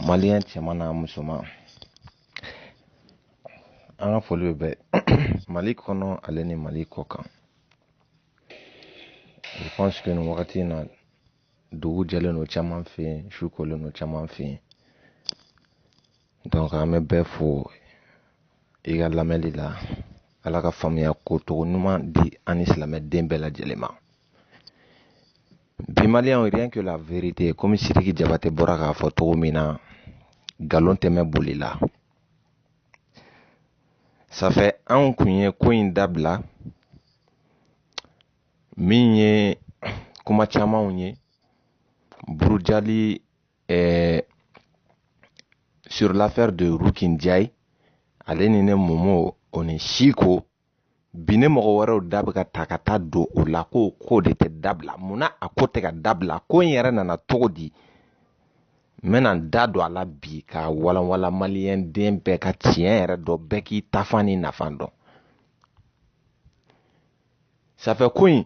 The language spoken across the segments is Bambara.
maliyɛn cɛman n'a musoman an ka foli bɛ mali kɔnɔ ale ni mali kɔkan je pense que nin wagati in na dugu jɛlen don caman fɛ yen su kolen don caman fɛ yen donc an bɛ bɛɛ fo i ka lamɛnli la ala ka faamuya ko cogo ɲuman di an ni silamɛden bɛɛ lajɛlen ma Bi maliyɛnw rien que la vérité komi Sidiki Jabate bɔra k'a fɔ cogo min na nkalon tɛ mɛɛn boli la ça fait an kun ye ko in dabila min ye kuma camanw ye burujali eh, sur l'affaire de Ruki Njayi ale ni ne Momo o ni Siko bi ne mɔgɔ wɛrɛw da bɛ ka ta ka taa don o la ko ko de tɛ dabila munna a ko tɛ ka dabila ko in yɛrɛ nana cogo di n bɛna n da don a la bi ka walanwala maliyɛn den bɛɛ ka tiɲɛ yɛrɛ dɔn bɛɛ k'i taafan n'i nafan dɔn ça fait ko in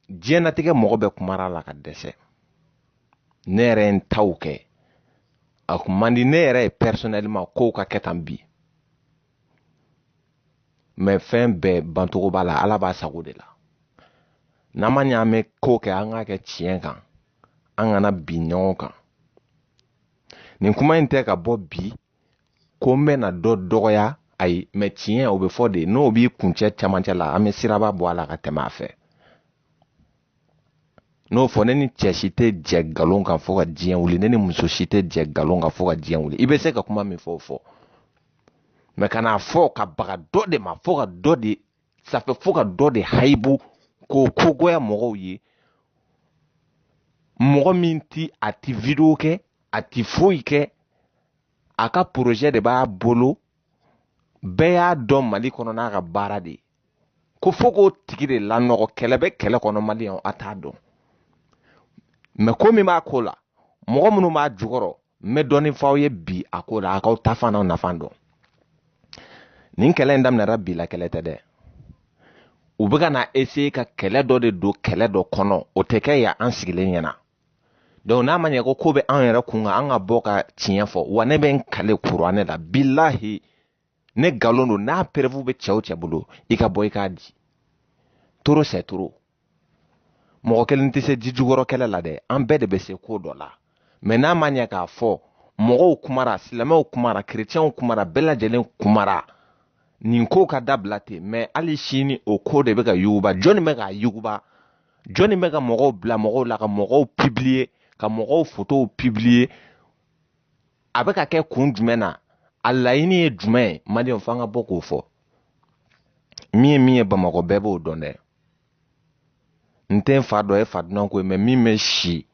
diɲɛnatigɛ mɔgɔ bɛɛ kumara a la ka dɛsɛ ne yɛrɛ ye n taw kɛ a kun man di ne yɛrɛ ye personnellement kow ka kɛ tan bi mais fɛn bɛɛ bancogo b'a la ala b'a sago de la n'a ma ɲɛ an bɛ ko kɛ an k'a kɛ tiɲɛ kan an kana bin ɲɔgɔn kan nin kuma in tɛ ka bɔ bi ko n bɛna dɔ dɔgɔya ayi mais tiɲɛ o bɛ fɔ de n'o b'i kuncɛ camancɛ la an bɛ siraba bɔ a la ka tɛmɛ a fɛ n'o fɔ ne ni cɛ si tɛ jɛ nkalon kan fo ka diɲɛ wuli ne ni muso si tɛ jɛ nkalon kan fo ka diɲɛ wuli i bɛ se ka kuma min fɔ o fɔ mais kan'a fɔ ka baga dɔ de ma fo ka dɔ de ça fait fo ka dɔ de hayibu k'o ko goya mɔgɔw ye mɔgɔ min ti a ti video kɛ a ti foyi kɛ a ka porozɛ de b'a bolo bɛɛ y'a dɔn mali kɔnɔ n'a ka baara de ko fo k'o tigi de lanɔgɔ kɛlɛ bɛ kɛlɛ kɔnɔ maliyɛnw a t'a dɔn mais ko min b'a ko la mɔgɔ minnu b'a jukɔrɔ n bɛ dɔɔnin f'aw ye bi a ko la a k'aw taafan n'aw nafan dɔn nin kɛlɛ in daminɛra bi la kɛlɛ tɛ dɛ u bɛ ka na essayer ka kɛlɛ dɔ de don kɛlɛ dɔ kɔnɔ o tɛ kɛ yan an sigilen ɲɛna donc n'a ma ɲɛ ko ko bɛ an yɛrɛ kun kan an ka bɔ ka tiɲɛ fɔ wa ne bɛ n kale kuranɛ la bilahi ni nkalon don n'a preuve bɛ cɛ o cɛ bolo i ka bɔ i k'a di trop c'est trop mɔgɔ kelen tɛ se ji jukɔrɔ kɛlɛ la dɛ an bɛɛ de bɛ se ko dɔ la mais n'a ma ɲɛ k'a fɔ mɔgɔw kumara silamɛw kumara kerecɛnw kumara bɛɛ lajɛlen kumara nin ko ka dabila ten mais hali sini o ko de bɛ ka yuguba jɔnni bɛ k'a yuguba jɔnni bɛ ka mɔgɔw bila mɔgɔw la ka mɔgɔw publier ka mɔgɔw fotow publier a bɛ ka kɛ kun jumɛn na a laɲini ye jumɛn ye maliyɛn f'an ka bɔ k'o fɔ min ye min ye bamakɔ bɛɛ b'o dɔn dɛ n tɛ n fa dɔn ye fa dunan ko ye mɛ min bɛ si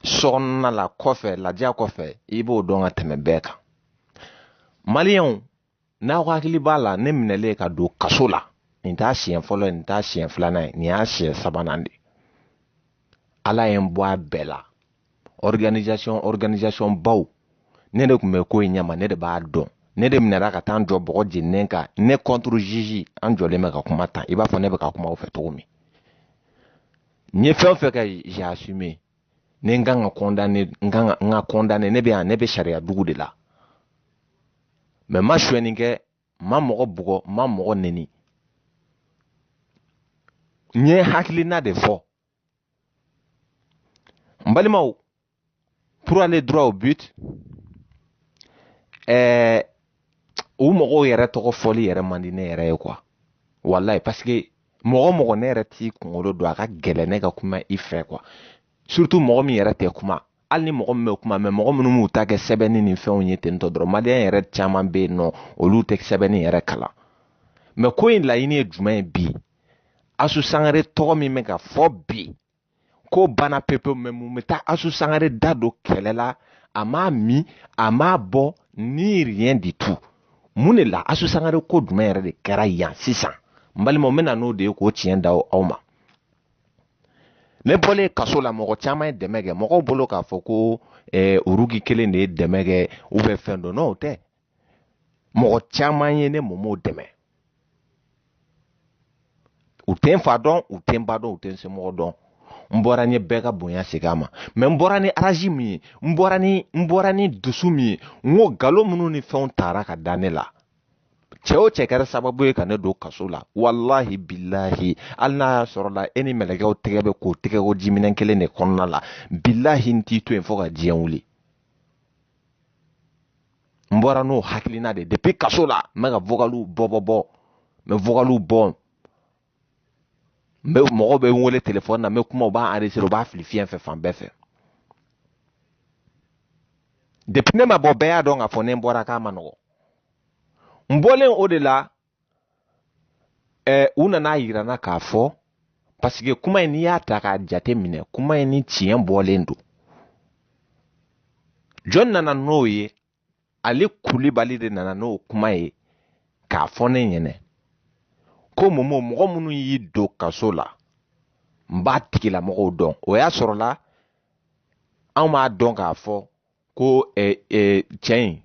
so kɔnɔna la kɔfɛ ladiya kɔfɛ i b'o dɔn ka tɛmɛ bɛɛ kan maliyɛnw n'aw hakili b'a la ne minɛlen ka don kaso la nin t'a siɲɛ fɔlɔ ye nin t'a siɲɛ filanan ye nin y'a siɲɛ sabanan de ala ye n bɔ a bɛɛ la organisation organisation baw ne de tun bɛ ko in ɲɛma ne de b'a dɔn ne de minɛra ka taa n jɔ bɔgɔ jeninen kan ne contre juge an jɔlen bɛ ka kuma tan i b'a fɔ ne bɛ ka kuma aw fɛ cogo min n ye fɛn o fɛn kɛ j'ai assumé ni n kan ka condamner n kan ka n ka condamner ne bɛ yan ne bɛ sariya dugu de la mɛ n ma sonyɛni kɛ n ma mɔgɔ bugɔ n ma mɔgɔ neni n ye hakilina de fɔ n balimaw pour aller droit au but ɛɛ o mɔgɔw yɛrɛ tɔgɔ fɔli yɛrɛ man di ne yɛrɛ ye kuwa walayi paseke mɔgɔ mɔgɔ ne yɛrɛ t'i kunkolo dɔn a ka gɛlɛn ne ka kuma i fɛ kuwa surutu mɔgɔ min yɛrɛ tɛ kuma hali ni mɔgɔ min bɛ kuma mɛ mɔgɔ minnu b'u ta kɛ sɛbɛnni ni fɛnw ye tentɔ dɔrɔn maliyɛn yɛrɛ caman bɛ yen n'olu tɛ sɛbɛnni yɛrɛ kalan mɛ ko in laɲini ye jumɛn ye bi asu sangare tɔgɔ min bɛ ka fɔ bi ko banna pepe mɛ mun bɛ taa asu sangare da don kɛlɛ la a m'a min a m'a bɔn ni rien du tout mun de la asu sangare ko jumɛn yɛrɛ de kɛra yan sisan n balimaw n bɛ na n'o de ye k'o tiɲɛ da aw ma ne bɔlen kaso la mɔgɔ caman ye dɛmɛ kɛ mɔgɔw bolo k'a fɔ ko eh, urugi kelen de ye dɛmɛ kɛ ou bien fɛn dɔ non o tɛ mɔgɔ caman ye ne mɔmɔ dɛmɛ u tɛ n fa dɔn u tɛ n ba dɔn u tɛ n somɔgɔ dɔn n bɔra n ye bɛɛ ka bonya segin a ma mɛ n bɔra ni arazi min ye n bɔra ni n bɔra ni dusu min ye n ko galon minnu ni fɛnw tara ka da ne la cɛ o cɛ kɛra sababu ye ka ne don kaso la walahi bilahi hali n'a y'a sɔrɔ la e ni mɛlɛkɛw tɛgɛ bɛ ko tɛgɛko jiminɛn kelen de kɔnɔna la bilahi n t'i to yen fo ka diɲɛ wuli n bɔra n'o hakilina de depuis kaso la n bɛ ka vokaliw bɔ bɔ bɔ n bɛ vokaliw bɔ mɔgɔw bɛ n wele telefɔni na n bɛ kuma u b'a enregistré u b'a fili fiɲɛ fɛ fan bɛɛ fɛ depuis ne ma bɔ bɛɛ y'a dɔn k'a fɔ ne bɔra k'a man nɔgɔn n bɔlen o de la ɛɛ u nana a yira n na k'a fɔ paseke kuma in n'i y'a ta k'a jate minɛ kuma in ni tiɲɛ bɔlen don jɔn nana n'o ye ale kulibali de nana n'o kuma ye k'a fɔ ne ɲɛnɛ ko momo mɔgɔ minnu y'i don kaso la n b'a tigilamɔgɔw dɔn o y'a sɔrɔ la an m'a dɔn k'a fɔ ko ɛ ɛ cɛ in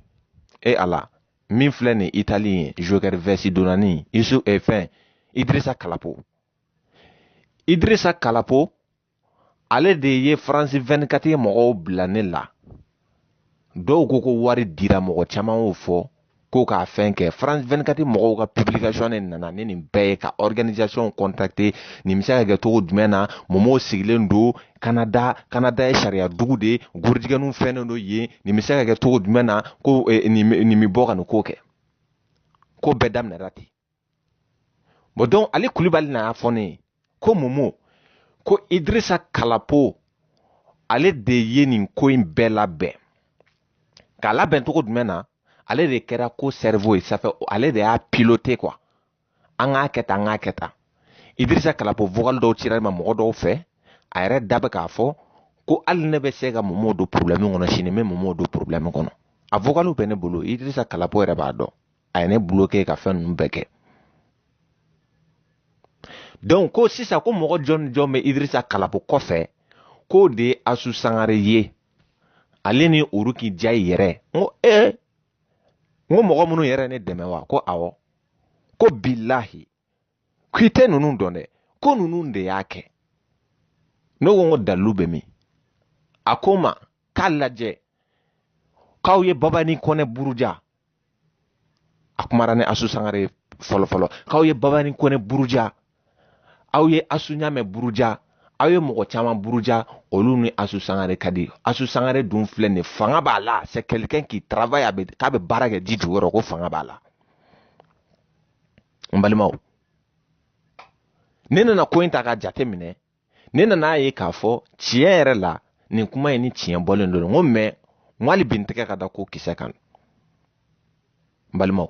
e ala min filɛ nin itali ye joker vɛsi donnani isu ɛ fɛn idirisa kalapo idirisa kalapo ale de ye faransi 24 mɔgɔw bila ne la dɔw ko ko wari dira mɔgɔ caman y'o fɔ ko k'a fɛn kɛ france 24 mɔgɔw ka publication ne nana ni nin bɛɛ ye ka organisation contacter nin bɛ se ka kɛ cogo jumɛn na momo sigilen don kanada kanada ye sariya dugu de ye gorijigɛnw fɛnnen don yen nin bɛ se ka kɛ cogo jumɛn na ko eh, nin bɛ bɔ ka nin ko kɛ ko bɛɛ daminɛra ten bɔn dɔnku ale kulibali na y'a fɔ ne ye ko momo ko idirisa kalapo ale de ye nin ko in bɛɛ labɛn k'a labɛn cogo jumɛn na ale de kɛra ko sɛrivo ye safɛ ale de y'a pilote kuwa an k'a kɛ tan an k'a kɛ tan idirisa kalapo vogal dɔw cira n ma mɔgɔ dɔw fɛ a yɛrɛ da bɛ k'a fɔ ko hali ne bɛ se ka momo don problɛmi kɔnɔ sini n bɛ momo don problɛmi kɔnɔ a vogaliw bɛ ne bolo idirisa kalapo yɛrɛ b'a dɔn a ye ne bloke ka fɛn ninnu bɛɛ kɛ dɔnku ko sisan ko mɔgɔ jɔn jɔn bɛ idirisa kalapo kɔfɛ k'o de ye asu sangare ye ale ni uruki jayi yɛrɛ n ko ee n ko mɔgɔ minnu yɛrɛ ne dɛmɛ wa ko awɔ ko bilahi k'i tɛ ninnu dɔn dɛ ko ninnu de y'a kɛ ne ko n ko dalilu bɛ min a ko n ma k'a lajɛ k'aw ye babani kɔnɛ buruja a kumara ni asu sangare ye fɔlɔ fɔlɔ k'aw ye babani kɔnɛ buruja aw ye asu ɲamɛ buruja aw ye mɔgɔ caman buruja olu ni asu sangare ka di asu sangare dun filɛ nin fanga b'a la c'est quelqu'un qui travaille k'a bɛ baara kɛ ji jukɔrɔ ko fanga b'a la n balimaw ne nana ko in ta k'a jate minɛ ne nana a ye k'a fɔ tiɲɛ yɛrɛ la nin kuma in ni tiɲɛ bɔlen don n ko mɛ n ko hali bi n tɛgɛ ka da ko kisɛ kan n balimaw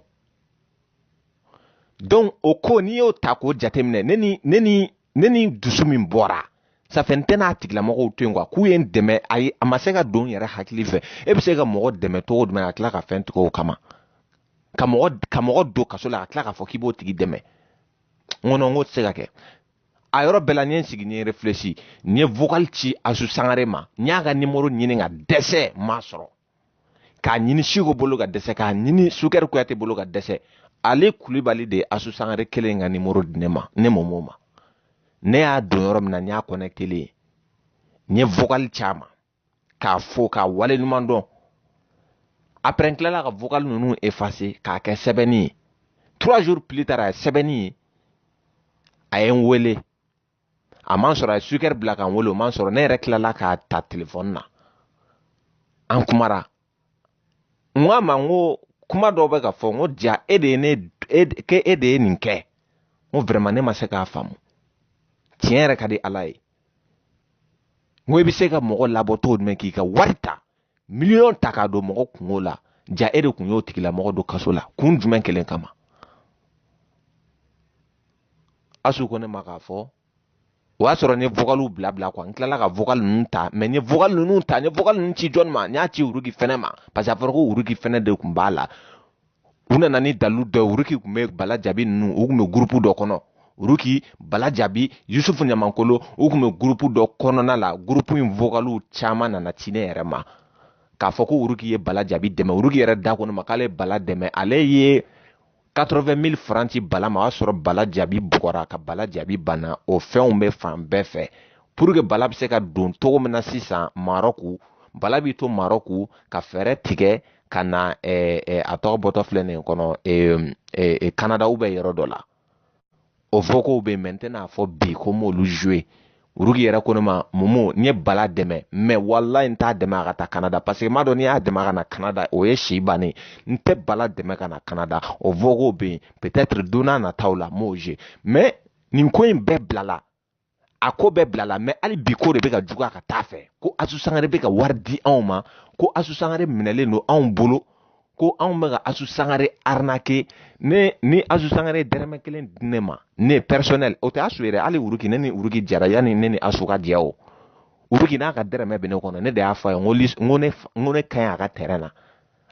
donc o ko n'i y'o ta k'o jateminɛ ne ni ne ni ne ni dusu min bɔra safɛ n tɛna a tigilamɔgɔw to yen kuwa k'u ye n dɛmɛ ayi a ma se ka don n yɛrɛ hakili fɛ e bɛ se ka mɔgɔ dɛmɛ cogo jumɛn ka tila ka fɛn tigɛ o kama ka mɔgɔ ka mɔgɔ don kaso la ka tila k'a fɔ k'i b'o tigi dɛmɛ n ko nɔn n k'o tɛ se ka kɛ a yɔrɔ bɛɛ la n ye n sigi n ye refilɛsi n ye vocal ci asu sangare ma n y'a ka nimoro ɲini ka dɛsɛ n m'a sɔrɔ k'a ɲini siko bolo ka dɛsɛ k'a ɲini sukɛri kuyate bolo ka dɛsɛ ale kulibali de ye asu sangare kelen ka nimoro di ne ma ne momo ma ne y'a don yɔrɔ min na n y'a connectélen n ye vocal ci a ma k'a fo k'a wale ɲuman dɔn après n tilala ka vocal ninnu effacer k'a kɛ sɛbɛnni ye trois jours plus tard a ye sɛbɛnni ye a ye n wele a ma n sɔrɔ a ye sukɛri bila ka n wele o ma n sɔrɔ ne yɛrɛ tilala k'a ta telefɔni na an kumara n ko a ma n ko kuma dɔw bɛ ka fɔ n ko jaa e de ye nin kɛ n ko vraiment ne ma se k'a faamu tiɲɛ yɛrɛ ka di ala ye n ko i bɛ se ka mɔgɔ labɔ cogo jumɛn k'i ka wari ta miliyɔn ta k'a don mɔgɔ kunko la jaa e de tun y'o tigilamɔgɔ don kaso la kun jumɛn kelen kama asu ko ne ma k'a fɔ o y'a sɔrɔ n ye vokaliw bila bila quoi n tilala ka vokali ninnu ta mais n ye vokali ninnu ta n ye vokali ninnu ci jɔni ma n y'a ci uruki fɛnɛ ma parce que a fɔra ko uruki fɛnɛ de tun b'a la u nana ni dalilu dɔ ye uruki tun bɛ bala jabi ninnu u tun bɛ gurupu dɔ kɔnɔ uruki bala jabi yusufu ɲamankolo u tun bɛ gurupu dɔ kɔnɔna la gurupu in vokaliw caman nana ci ne yɛrɛ ma k'a fɔ ko uruki ye bala jabi dɛmɛ uruki yɛrɛ de ko ne ma k'ale ye bala dɛmɛ ale ye 80 000 francs ci bala ma o y'a sɔrɔ bala jabi bugɔra ka bala jabi bana o fɛnw bɛ fan bɛɛ fɛ pour que bala bɛ se ka don cogo min na sisan marɔku bala b'i to marɔku ka fɛɛrɛ tigɛ ka na a tɔgɔ bɔtɔ filɛ ne kɔnɔ kanada ou bien yɔrɔ dɔ la o vocaux bɛ mais n tɛna fɔ bi ko n b'olu jouer uruki yɛrɛ ko ne ma momo n ye bala dɛmɛ mais walayi n t'a dɛmɛ a ka taa kanada parce que m'a dɔn n'i y'a dɛmɛ ka na kanada o ye si bannen n tɛ bala dɛmɛ ka na kanada o vocaux bɛ yen peut-être don nataw la n b'o jouer mais nin ko in bɛɛ bilala a ko bɛɛ bilala mais hali bi ko de bɛ ka juguya ka taa a fɛ ko asu sangare bɛ ka wari di anw ma ko asu sangare minɛlen don anw bolo ko anw bɛ ka asu sangare arnaquer ni asu sangare dɛrɛmɛ kelen di ne ma ne personnel o tɛ asu yɛrɛ hali uruki ne ni uruki jara yanni ne ni asu ka jɛ o uruki n'a ka dɛrɛmɛ bɛ ne kɔnɔ ne de y'a fɔ a ye n ko ne ka ɲi a ka tɛrɛn na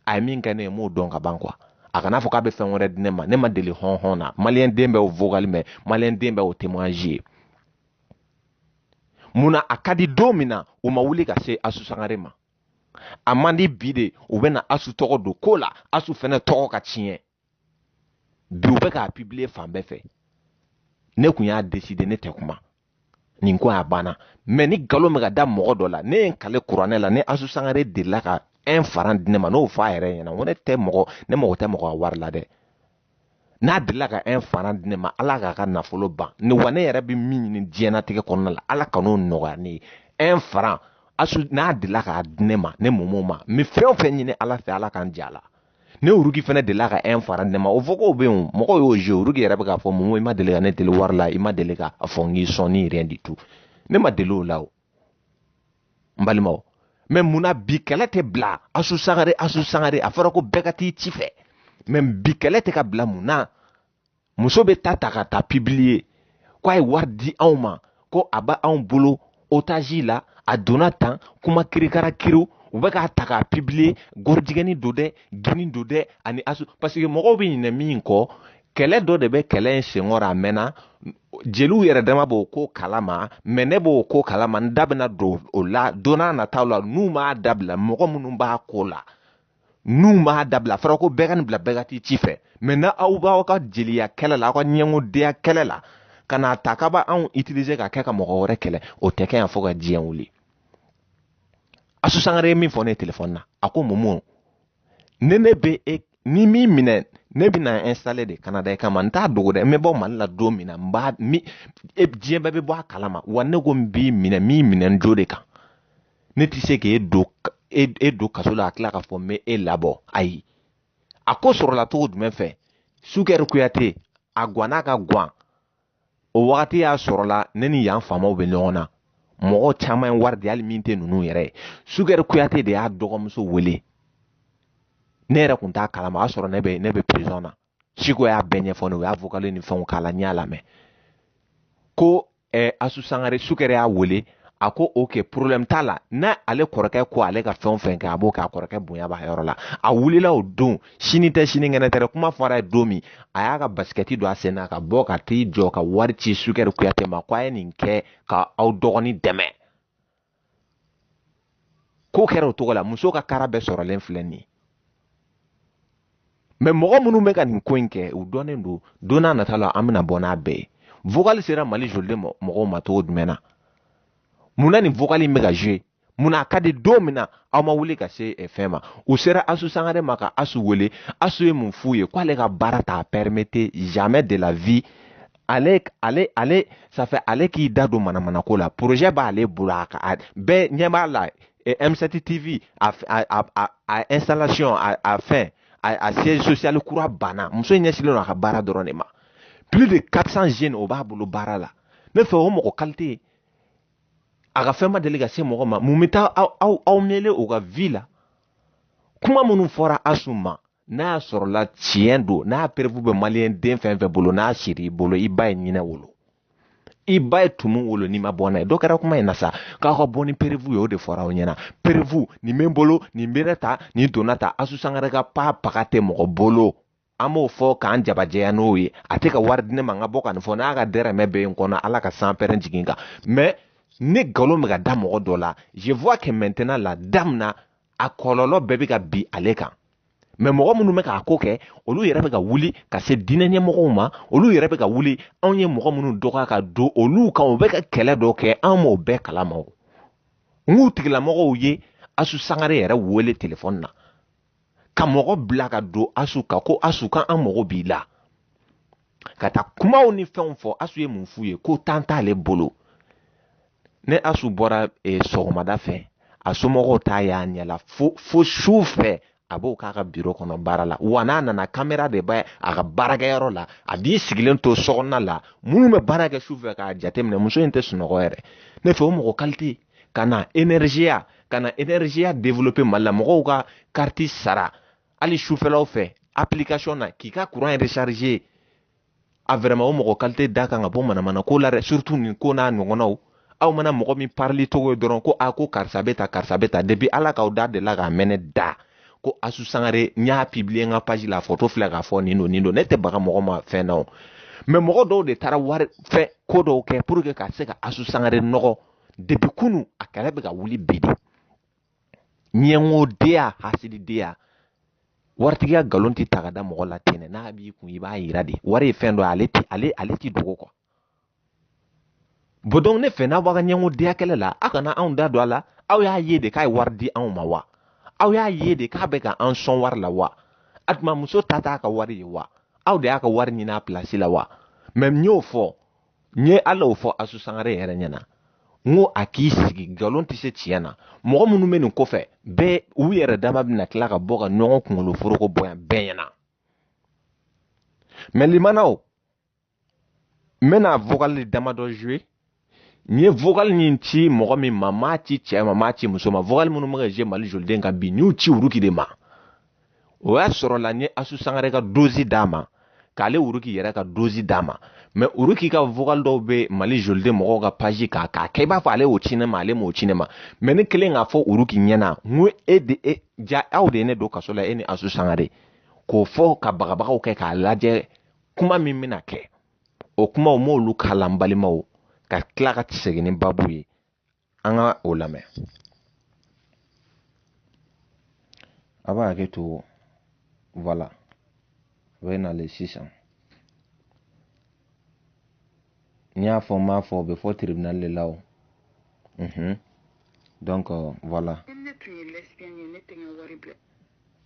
a ye min kɛ ne ye m'o dɔn ka ban quoi a kana fɔ k'a bɛ fɛn wɛrɛ di ne ma ne m'a deli hɔn hɔn na maliyɛn den bɛ o vocal mɛn maliyɛn den bɛ o témoignage ye mun na a ka di don min na u ma wuli ka se asu sangare ma a man di bi de u bɛna asu tɔgɔ don ko la asu fɛnɛ tɔgɔ ka tiɲɛ bi u bɛ k'a publier fan bɛɛ fɛ ne kun y'a décider ne tɛ kuma nin ko a banna mɛ ni nkalon bɛ ka da mɔgɔ dɔ la ne ye n kali kuranɛ la ni asu sangare delila ka un faran di ne ma n'o fɔ a yɛrɛ ɲɛna ko ne tɛ mɔgɔ ne mago tɛ mɔgɔ ka wari la dɛ n'a delila ka un faran di ne ma ala k'a ka nafolo ban ne wa ne yɛrɛ bɛ min ɲini diɲɛnatigɛ kɔnɔna la ala kan'o nɔgɔya ne ye un faran asu n'a delila k'a di ne ma ne mumu ma n bɛ fɛn o fɛn ɲini ala fɛ ala ka n jɛ a la ni uruki fana delila ka un faran di ne ma o vocaux bɛ yen o mɔgɔw y'o jouer uruki yɛrɛ bɛ k'a fɔ mumu i ma deli ka ne deli wari la i ma deli ka a fɔ n k'i sɔn ni rien du tout ne ma deli o la o n balimaw mɛ mun na bi kɛlɛ tɛ bila asu sangare asu sangare a fɔra ko bɛɛ ka t'i ci fɛ mɛ bi kɛlɛ tɛ ka bila mun na muso bɛ t'a ta ka t'a publier ko a ye wari di anw ma ko a bɛ anw bolo otage la a donna tan kuma kirikara kiri u bɛ k'a ta k'a publier gɔrijɛgɛni don dɛ gini don dɛ ani asu parce que mɔgɔw bɛ ɲinɛ min kɔ kɛlɛ dɔ de bɛ kɛlɛ in senkɔrɔ a mɛnna jeliw yɛrɛ dama b'o ko kalama mɛ ne b'o ko kalama n da bɛna don o la don nataw la n'u m'a dabila mɔgɔ minnu b'a ko la n'u m'a dabila fɔra ko bɛɛ ka nin bila bɛɛ ka t'i ci fɛ mɛ ni aw b'aw ka jeliya kɛlɛ la aw ka ɲɛngodenya kɛlɛ la ka n'a ta k'aw b'anw utiliser ka kɛ ka mɔgɔ wɛrɛ kɛlɛ o tɛ kɛ yan fo ka diɲɛ wuli asu sangare ye min fɔ ne ye telefɔni na a ko mumu ne ne bɛ e ni min minɛ ne bɛna installer de kanada i kama n t'a dogo dɛ n bɛ bɔ mali la don min na n b'a minɛ diɲɛ bɛɛ bɛ bɔ a kalama wa ne ko n b'i minɛ min minɛ n jo de kan ne tɛ se k'e don e, e don kaso la a tila k'a fɔ n bɛ e labɔ ayi a ko sɔrɔla cogo jumɛn fɛ sukɛri kuyate a gwanna ka gwan o wagati y'a sɔrɔla ne ni yan faamaw bɛ ɲɔgɔn na mɔgɔ caman ye wari di hali min tɛ ninnu yɛrɛ ye sukɛri kuyate de y'a dɔgɔmuso wele ne yɛrɛ kun t'a kalama o y'a sɔrɔ ne bɛ ne bɛ prison na ciko y'a bɛɛ ɲɛfɔ ne o y'a vocal ni fɛnw k'a la n y'a lamɛn ko eh, asu sangare sukɛri y'a wele a ko ok problème t'a la n'ale kɔrɔkɛ ko ale ka fɛn o fɛn kɛ a b'o kɛ a kɔrɔkɛ bonya b'a yɔrɔ la a wulila o don sini tɛ sinikɛnɛ tɛ kuma fɔr'a ye don min a y'a ka basikɛti don a sen na ka bɔ ka t'i jɔ ka wari ci sukɛri kuyate ma ko a ye nin kɛ ka aw dɔgɔnin dɛmɛ ko kɛra o cogo la muso ka kara bɛɛ sɔrɔlen filɛ nin ye mɛ mɔgɔ minnu bɛ ka nin ko in kɛ u dɔnnen don don nata la an bɛna bɔ n'a bɛɛ ye vocal sera mali joliden mɔgɔw ma cogo jumɛn na mun na nin vocal in bɛ ka jouer mun na a ka di don min na aw ma wuli ka se eh, fɛn ma u sera asu sangare ma ka asu wele asu ye mun f'u ye k'ale ka baara t'a permettre jamais de la vie ale ale ale ça fait ale k'i da don manamana ko la projet b'ale bolo a ka bɛɛ ɲɛ b'a la eh, M7 TV a a a a installation a a fɛn a a siège social kura banna muso in ɲɛsinnen don a ka baara dɔrɔn de ma plus de 400 jeunes o b'a bolo baara la ne fɛ o mɔgɔ qualité a ka fɛn ma deli ka se mɔgɔ ma mun bɛ taa aw aw aw mêler o ka vie la kuma minnu fɔra asu ma n'a y'a sɔrɔla tiɲɛ don n'a preuve bɛ maliyɛn den fɛn fɛn bolo n'a siri i bolo i ba ye ɲinɛ wolo i ba ye tumu wolo n'i ma bɔ n'a ye dɔ kɛra kuma in na sa k'aw ka bɔ ni preuve ye o de fɔra aw ɲɛna preuve nin bɛ n bolo nin bɛ ta nin donna ta asu sangare ka pa paga tɛ mɔgɔ bolo an b'o fɔ k'an jabajɛya n'o ye a tɛ ka wari di ne ma n ka bɔ ka nin fɔ n'a ka dɛrɛmɛ bɛ n kɔnɔ ala ka sanpɛrɛn jigin n kan mais ne nkalon bɛ ka da mɔgɔ dɔ la je vois que maintenant la dame na a kɔlɔlɔ bɛɛ bɛ ka bin ale kan mais mɔgɔ minnu bɛ k'a ko kɛ olu yɛrɛ bɛ ka wuli ka se diinɛ ɲɛmɔgɔw ma olu yɛrɛ bɛ ka wuli anw ye mɔgɔ minnu dɔgɔya ka don olu kan u bɛ ka kɛlɛ dɔ kɛ anw m'o bɛɛ kalama o n k'u tigilamɔgɔw ye asu sangare yɛrɛ wele telefɔni na ka mɔgɔ bila ka don asu kan ko asu k'an mago b'i la ka taa kumaw ni fɛnw fɔ asu ye mun f'u ye ko temps t'ale bolo ni asu bɔra e, sɔgɔmada fɛ a somɔgɔw t'a y'a ɲɛ la fo fo su fɛ a b'o k'a ka biro kɔnɔ baara la wa n'a nana kamera de b'a a ka baarakɛyɔrɔ la a b'i sigilen to sokɔnɔna la minnu bɛ baara kɛ su fɛ k'a jateminɛ muso in tɛ sunɔgɔ yɛrɛ ne fɛ o mɔgɔ qualité ka na énergie ka na énergie développer mali la mɔgɔw ka kariti sara hali sufɛlaw fɛ application na k'i ka courant recharger a vraiment o mɔgɔ qualité da kan ka bɔ manamana ko la dɛ surtout nin ko n'a ɲɔgɔnnaw aw mana mɔgɔ min parili cogo ye dɔrɔn ko a ko karisa bɛ ta karisa bɛ ta depuis ala k'aw da delila k'a mɛn ne da ko asu sangare n y'a publier n ka page la photo filɛ k'a fɔ nin don nin don ne tɛ baga mɔgɔ ma fɛn na o mais mɔgɔ dɔw de taara wari fɛn ko dɔw kɛ pour que ka se ka asu sangare nɔgɔ depuis kunu a kɛlɛ bɛ ka wuli bi de ɲɛngodenya hasididenya waritigiya nkalon tɛ ta ka da mɔgɔ la ten dɛ n'a b'i kun i b'a yira de wari ye fɛn dɔ ye ale ti ale ale ti dogo quoi bon ne fɛ n'a b'a ka ɲɛngodenya kɛlɛ la aw kana anw da don a la aw y'a ye de k'a ye wari di anw ma wa aw y'a ye de k'a bɛ ka an sɔn wari la wa a tuma muso ta t'a ka wari ye wa aw de y'a ka wari ɲini a place la wa mais n y'o fɔ n ye hali o fɔ asu sangare yɛrɛ ɲɛna n ko a k'i sigi nkalon tɛ se tiɲɛ na mɔgɔ minnu bɛ nin kɔfɛ bɛɛ u yɛrɛ dama bɛna tila ka bɔ ka ɲɔgɔn kunkolo foroko bɔ yan bɛɛ ɲɛna mais limanaw n bɛna vocal damadɔ jouer n ye vocal nin ci mɔgɔ min ma n m'a ci cɛ ma n m'a ci muso ma vocal minnu bɛ ka jouer mali joliden kan bi n y'u ci olu de ma o y'a sɔrɔla n ye asu sangare ka dosi d'a ma k'ale uruki yɛrɛ ka dosi d'a ma mais uruki ka vocal dɔw bɛ mali joliden mɔgɔw ka page kan k'a kɛ i b'a fɔ ale y'o ci ne ma ale m'o ci ne ma mais ne kɛlen k'a fɔ uruki ɲɛna n ko e de e ja aw de ye ne don kaso la e ni asu sangare k'o fɔ ka bagabagaw kɛ k'a lajɛ kuma min bɛna kɛ o kumaw m'olu kalan balimaw ka tila ka segin ni babu ye an ka o lamɛn a b'a hakɛ to voilà o bɛ nalen sisan n y'a fɔ n m'a fɔ o bɛ fɔ tribunal de la o donc voilà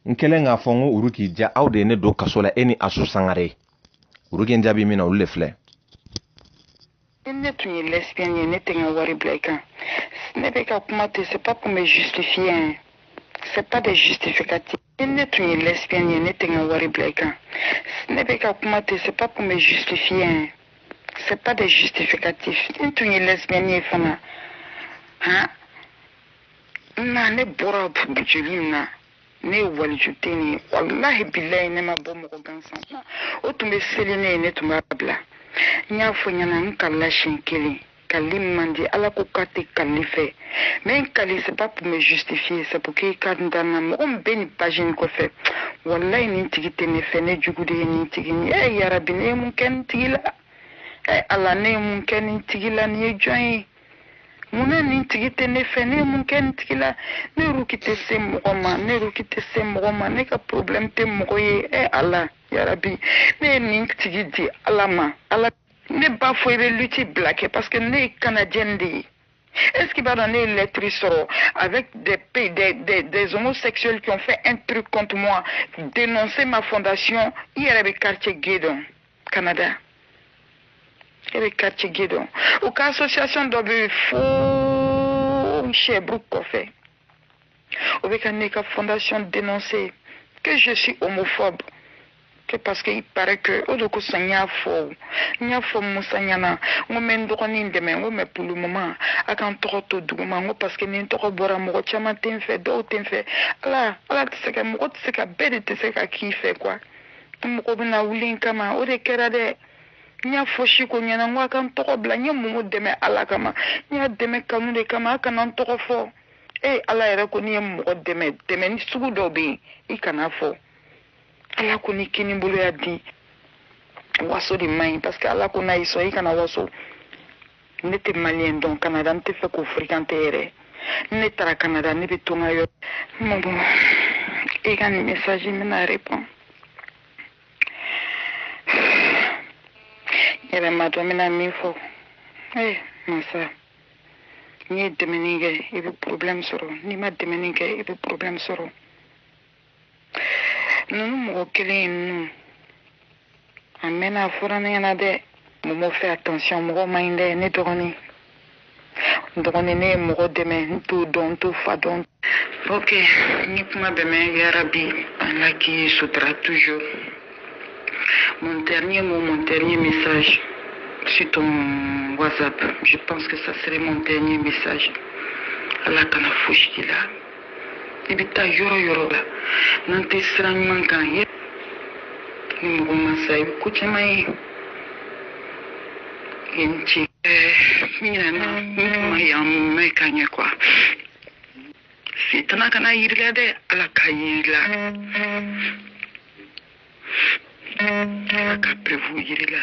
n kɛlen k'a fɔ n ko uruki ja aw de ye ne don kaso la e ni asu sangare uruki n jaabi min na olu de filɛ ni ne tun ye lesbienne ye ne tɛ n ka wari bila i kan ne bɛ ka kuma ten c'est pas pour me justifier hein c'est pas des justificatifs ni ne tun ye lesbienne ye ne tɛ n ka wari bila i kan ne bɛ ka kuma ten c'est pas pour me justifier hein c'est pas des justificatifs ne tun ye lesbienne ye fana han na ne bɔra joli min na ne ye waliju den ye walahi bilayi ne ma bɔ mɔgɔ gansan na o tun bɛ seli ne ye ne tun b'a bila n y'a fɔ ɲɛna n kalila siɲɛ kelen kali man di ala ko k'a tɛ kali fɛ mais n kali c'est pas pour me justifier c'est pour que ka n danna mɔgɔ min bɛ nin page in kɔfɛ walayi nin tigi tɛ ne fɛ ne jugu de ye nin tigi ye ɛ eh, yarabi ne ye mun kɛ nin tigi la ɛ eh, ala ne ye mun kɛ nin tigi la nin ye jɔn ye munna nin tigi tɛ ne fɛ ne ye mun kɛ nin tigi la ne ruki tɛ se mɔgɔ ma ne ruki tɛ se mɔgɔ ma ne ka problème tɛ mɔgɔ ye ɛ eh, ala yarabi ne ye nin tigi di ala ma ala ne b'a fɔ i bɛ lutte bila kɛ parce que ne ye canadienne de ye Est-ce qu'i b'a dɔn ne ye lettre sɔrɔ avec des, des, des, des, homosexuels qui ont fait un truc contre moi, dénoncer ma fondation, i yɛrɛ bɛ quartier gay dɔn. Canada e bɛ quartier gay dɔn u ka association dɔ bɛ fo Sherbrooke kɔfɛ o bɛ ka ne ka fondation dénoncer que je suis homophobe que parce que il paraît que o de kosɔn n y'a fɔ n y'a fɔ Musa ɲɛna n ko n bɛ n dɔgɔnin dɛmɛ n ko mais pour le moment a ka n tɔgɔ to duguma n ko parce que ni n tɔgɔ bɔra mɔgɔ caman tɛ n fɛ dɔw tɛ n fɛ ala ala tɛ se ka mɔgɔ tɛ se ka bɛɛ de tɛ se ka k'i fɛ quoi. an mɔgɔ bɛna wuli n kama o de kɛra dɛ n y'a fɔ siko ɲɛna n ko a ka n tɔgɔ bila n ye mumu dɛmɛ ala kama n y'a dɛmɛ kanu de kama a kana n tɔgɔ fɔ e ala yɛrɛ ko n'i ye mɔgɔ dɛmɛ dɛmɛni sugu dɔ bɛ yen i kan'a fɔ ala ko n'i kinibolo y'a di waso de man ɲi parce que ala ko n'a y'i sɔn i kana waso ne tɛ maliyɛn dɔn kanada n t'a fɛ k'u fréquenter yɛrɛ ne taara kanada ne bɛ to n ka yɔrɔ Momo i ka nin mesaji n bɛna repɔn yɛrɛ m'a dɔn n bɛna min fɔ ee eh, masa n'i ye dɛmɛni kɛ i bɛ porobilɛmu sɔrɔ n'i ma dɛmɛni kɛ i bɛ porobilɛmu sɔrɔ ninnu mɔgɔ kelen in ninnu a mɛnna a fɔra ne ɲɛna dɛ Momo fais attention mɔgɔ man ɲi dɛ ne dɔgɔnin n dɔgɔnin ne ye mɔgɔ dɛmɛ n t'o dɔn n t'o fa dɔn ok n ye kuma bɛɛ mɛn yarabi ala k'i sutura toujours mon dernier mot mon dernier message sur ton whatsapp je pense que ça serait mon dernier message ala kana fosi k'i la i bɛ taa yɔrɔ yɔrɔ la n'an tɛ sira ɲuman kan ye ni mɔgɔ ma sa i bɛ ko caman ye ye n ci ɲinɛna n tun ma yan mɛ ka ɲɛ quoi sitana kan'a yir'i la dɛ ala k'a yir'i la ala ka preuve yir'i la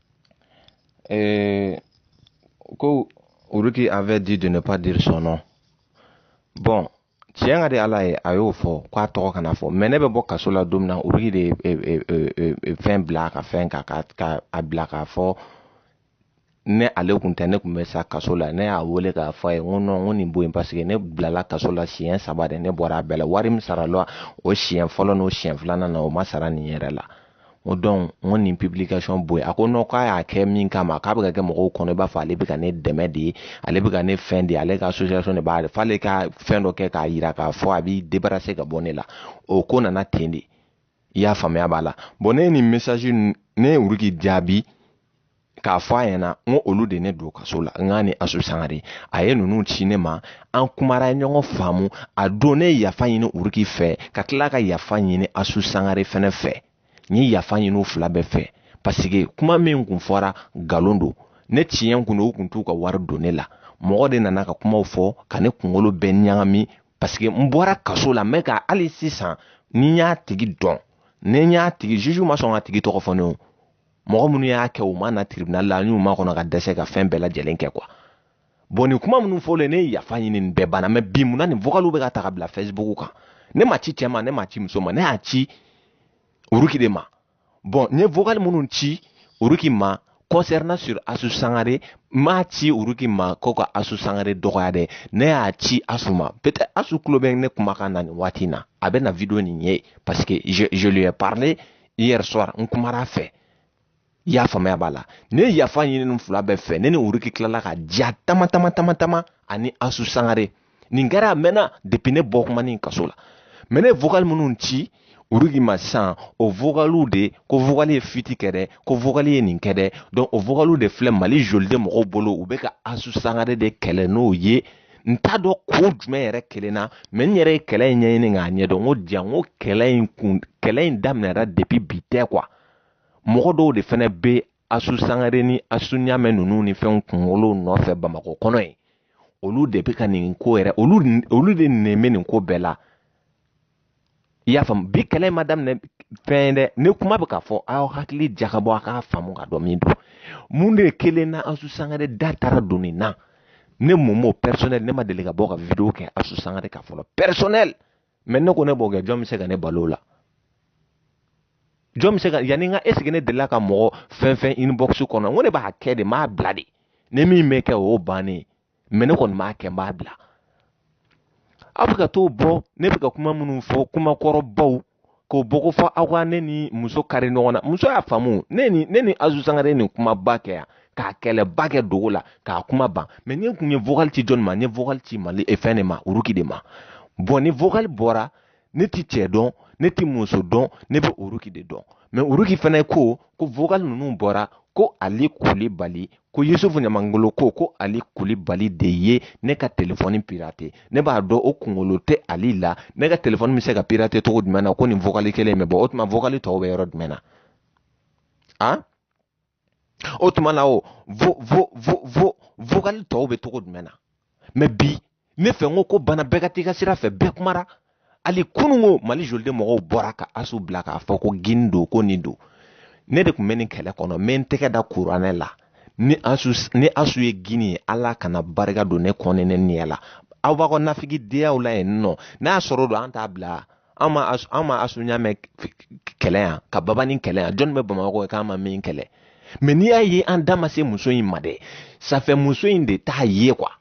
Et ko Uruki avait dit de ne pas dire son nom. Bon, tiɲɛ ka di ala ye a y'o fɔ k'a tɔgɔ kana fɔ mɛ ne bɛ bɔ kaso la don min na Uruki de ye e, e, e, fɛn bila ka fɛn ka ka a bila k'a fɔ ni ale kun tɛ ne kun bɛ sa kaso la ne y'a wele k'a fɔ a ye n ko non n ko nin bɔ yen paseke ne bilala kaso la siɲɛ saba de ne bɔra a bɛɛ la wari min sara la o siɲɛ fɔlɔ n'o siɲɛ filanan na o ma sara nin yɛrɛ la n ko dɔn n ko nin publication bɔ yen a ko non k'a y'a kɛ min kama k'a bɛ ka kɛ mɔgɔw kɔnɔ i b'a fɔ ale bɛ ka ne dɛmɛ de ale bɛ ka ne fɛn de ale ka association de b'a f'ale ka fɛn dɔ kɛ k'a yira k'a fɔ a b'i débarrasser ka bɔ ne la o ko nana ten de i y'a faamuya voilà bɔn ne ye nin message ne ye uruki jaabi k'a fɔ a ɲɛna n ko olu de ne don kaso la n k'a ni asu sangare a ye ninnu ci ne ma an kumara ɲɔgɔn faamu a don ne ye yafa ɲini uruki fɛ ka tila ka yafa ɲini asu sangare fɛnɛ fɛ n ye yafa ɲini u fila bɛɛ fɛ paseke kuma min kun fɔra nkalon don ni tiɲɛ kun don u kun t'u ka wari don ne la mɔgɔ de nana ka kumaw fɔ ka ne kunkolo bɛɛ ɲagami paseke n bɔra kaso la n bɛ ka hali sisan ni n y'a tigi dɔn ni n y'a tigi juge ma sɔn k'a tigi tɔgɔ fɔ ne o mɔgɔ minnu y'a kɛ u ma na tribunal la an y'u makɔnɔ ka dɛsɛ ka fɛn bɛɛ lajɛlen kɛ quoi bɔn nin kuma minnu fɔlen ne ye yafa ɲini nin bɛɛ banna mɛ bi mun na nin vɔgaliw bɛ ka ta ka bila facebook kan ne m'a ci cɛ ma ne m'a ci muso ma ne y'a ci uruki de ma bɔn n ye vɔgali minnu ci uruki ma concernant sur asu sangare n m'a ci uruki ma ko ka asu sangare dɔgɔya dɛ ne y'a ci asu ma peut-être asu tulo bɛ ne kumakan na nin waati in na a bɛ na video nin ye parce que je, je lui ai parlé hier soir n kumara fɛ i y'a faamuya b'a la ne ye yafa ɲini nin fila bɛɛ fɛ ne ni uruki tilala ka diya tama ani asu sangare nin kɛra a mɛnna depuis ne bɔ kuma ni kaso la mɛ ne vocal minnu ci uruki ma sisan o vokaliw de ko vokali ye fiti kɛ dɛ ko vokali ye nin kɛ dɛ donc o vokaliw de filɛ mali joliden mɔgɔw bolo u bɛ ka asu sangare de kɛlɛ n'o ye n t'a dɔn ko jumɛn yɛrɛ kɛlɛ na mɛ n yɛrɛ ye kɛlɛ in ɲɛɲini k'a ɲɛdɔn n ko diya n ko kɛlɛ in daminɛra depi bi tɛ kuwa mɔgɔ dɔw de fɛnɛ bɛ asu sangare ni asu ɲamɛ ninnu ni fɛnw kunkolo nɔfɛ bamakɔ kɔnɔ yen olu de bɛ ka nin ko yɛrɛ olu de nɛn bɛ nin ko bɛɛ la i y'a faamu bi kɛlɛ ma daminɛ fɛn dɛ ne kuma bɛ ka fɔ aw hakili jagabɔ a k'a faamu k'a dɔn min don mun de ye kɛlɛ na asu sangare da taara don nin na ne mɔmɔ pɛrisɔnɛli ne ma deli ka bɔ ka video kɛ asu sangare kan fɔlɔ pɛrisɔnɛli mɛ ne ko ne b'o kɛ jɔn bɛ se ka ne bali o la jɔn bɛ se ka yanni n ka ɛsiki ne delila ka mɔgɔ fɛn fɛn inbox kɔnɔ n ko ne b'a kɛ de n b'a bila de ni min bɛ kɛ o y'o bannen ye mɛ ne kɔni b'a kɛ n b'a bila aw bɛ ka t'o bɔ ne bɛ ka kuma minnu fɔ kuma kɔrɔbaw k'o bɔ k'o fɔ aw ka ne ni muso kari ɲɔgɔn na muso y'a faamu ne ni asu sangare nin kumaba kɛ yan k'a kɛlɛba kɛ dogo la k'a kuma ban mɛ ne tun ye vocal ci jɔni ma ne vocal ci mali e fɛn de ma uruki de ma bɔn ni vocal bɔra ne tɛ cɛ dɔn ne tɛ muso dɔn ne bɛ uruki de dɔn mɛ uruki fana ko ko vocal ninnu bɔra ko ali kulibali ko yusufu ɲamangolo ko ko ali kulibali de ye ne ka telefɔni pirate ne b'a dɔn o kunkolo tɛ ali la ne ka telefɔni bɛ se ka pirate cogo jumɛn na ko nin vokali kelen in bɛ bɔ o tuma vokali tɔw bɛ yɔrɔ jumɛn na a o tuma na o vocal tɔw bɛ cogo jumɛn na mɛ bi ne fɛ n ko ko banna bɛɛ ka t'i ka sira fɛ bɛɛ kumara hali kunun ko mali joliden mɔgɔw bɔra ka asu bila k'a fɔ ko gini don ko nin don ne de tun bɛ nin kɛlɛ kɔnɔ n bɛ n tɛgɛ da kuranɛ la ni asu ni asu ye gini ye ala kana barika don ne kɔ ni ne ɲɛ la aw b'a ka nafigiyaw la yen nɔ n'a sɔrɔ don an t'a bila an ma asu ɲamɛ kɛlɛ yan ka babani kɛlɛ yan jɔnni bɛ bamakɔ yen k'an ma min kɛlɛ mɛ n'i y'a ye an da ma se muso in ma dɛ safɛ muso in de t'a ye kuwa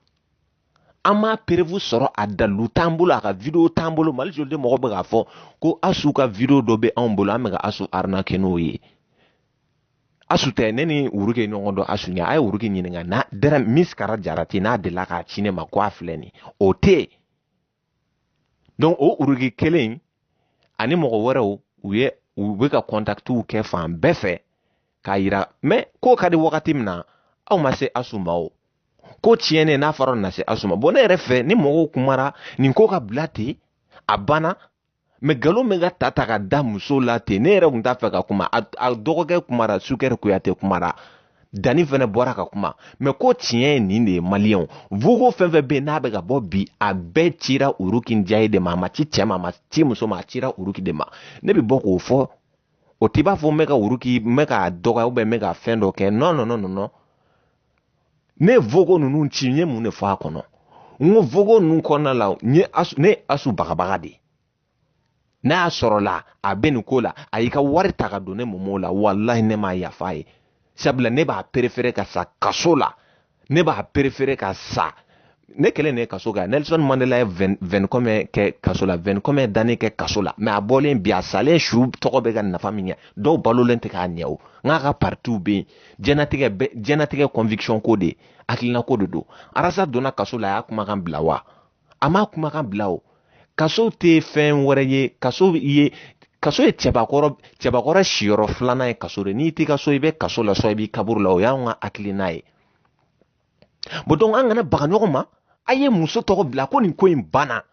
an m'a preuve sɔrɔ a dalilu t'an bolo a ka video t'an bolo mali joliden mɔgɔ bɛ k'a fɔ ko asu ka video dɔ bɛ anw bolo an bɛ ka asu arnake n'o ye asu tɛ ne ni uruki ɲɔgɔn dɔn asu ɲɛ a ye uruki ɲininka n'a dɛrɛ misikara jarati n'a delila k'a ci ne ma ko a filɛ nin o tɛ yen donc o uruki kelen ani mɔgɔ wɛrɛw u ye u bɛ ka kɔntakitiw kɛ fan bɛɛ fɛ k'a yira mɛ ko ka di wagati min na aw ma se asu ma o ko tiɲɛnen n'a fɔra na se asu ma bɔn ne yɛrɛ fɛ ni mɔgɔw kumara nin ko ka bila ten a banna mais galon min ka ta ta ka da muso la ten ne yɛrɛ kun t'a fɛ ka kuma a dɔgɔkɛ kumara sukɛri kuyate kumara dani fɛnɛ bɔra ka kuma mais ko tiɲɛ ye nin de ye maliyɛnw vogo fɛn fɛn bɛ yen n'a bɛ ka bɔ bi a bɛɛ cira uruki njaye de ma a ma ci cɛ ma a ma ci muso ma a cira uruki de ma ne bɛ bɔ k'o fɔ o t'i b'a fɔ n bɛ ka uruki n bɛ k'a dɔgɔya ou bien n bɛ ka fɛn dɔ kɛ non non non non ne ye vogo ninnu ci n ye mun de fɔ a kɔnɔ n ko vogo ninnu kɔnɔna la n ye asu ne ye asu bagabaga de n'a y'a sɔrɔla a bɛ nin ko la a y'i ka wari ta ka don ne momo la walahi ne m'a yafa a ye sabula ne b'a préférer ka sa kaso la ne b'a préférer ka sa ne kelen de kaso kan nelson mandela ye 20 combien kɛ kaso la 20 combien d'années kɛ kaso la mais a bɔlen bi a salen su tɔgɔ bɛ ka nafa min ɲɛ dɔw balolen tɛ k'a ɲɛ o n k'a ka partiw bɛ yen jɛnatigɛ jɛnatigɛ conviction ko de hakilina ko de don arasa donna kaso la a y'a kumakan bila wa a m'a kumakan bila o kaso tɛ fɛn wɛrɛ ye kaso ye kaso ye cɛbakɔrɔ cɛbakɔrɔ siyɔrɔ filanan ye kaso de n'i t'i ka so i bɛ kaso la sinon i b'i kaburu la o y'anw ka hakilina ye bon donc an kana baga ɲɔgɔn ma a ye muso tɔgɔ bila ko nin ko in banna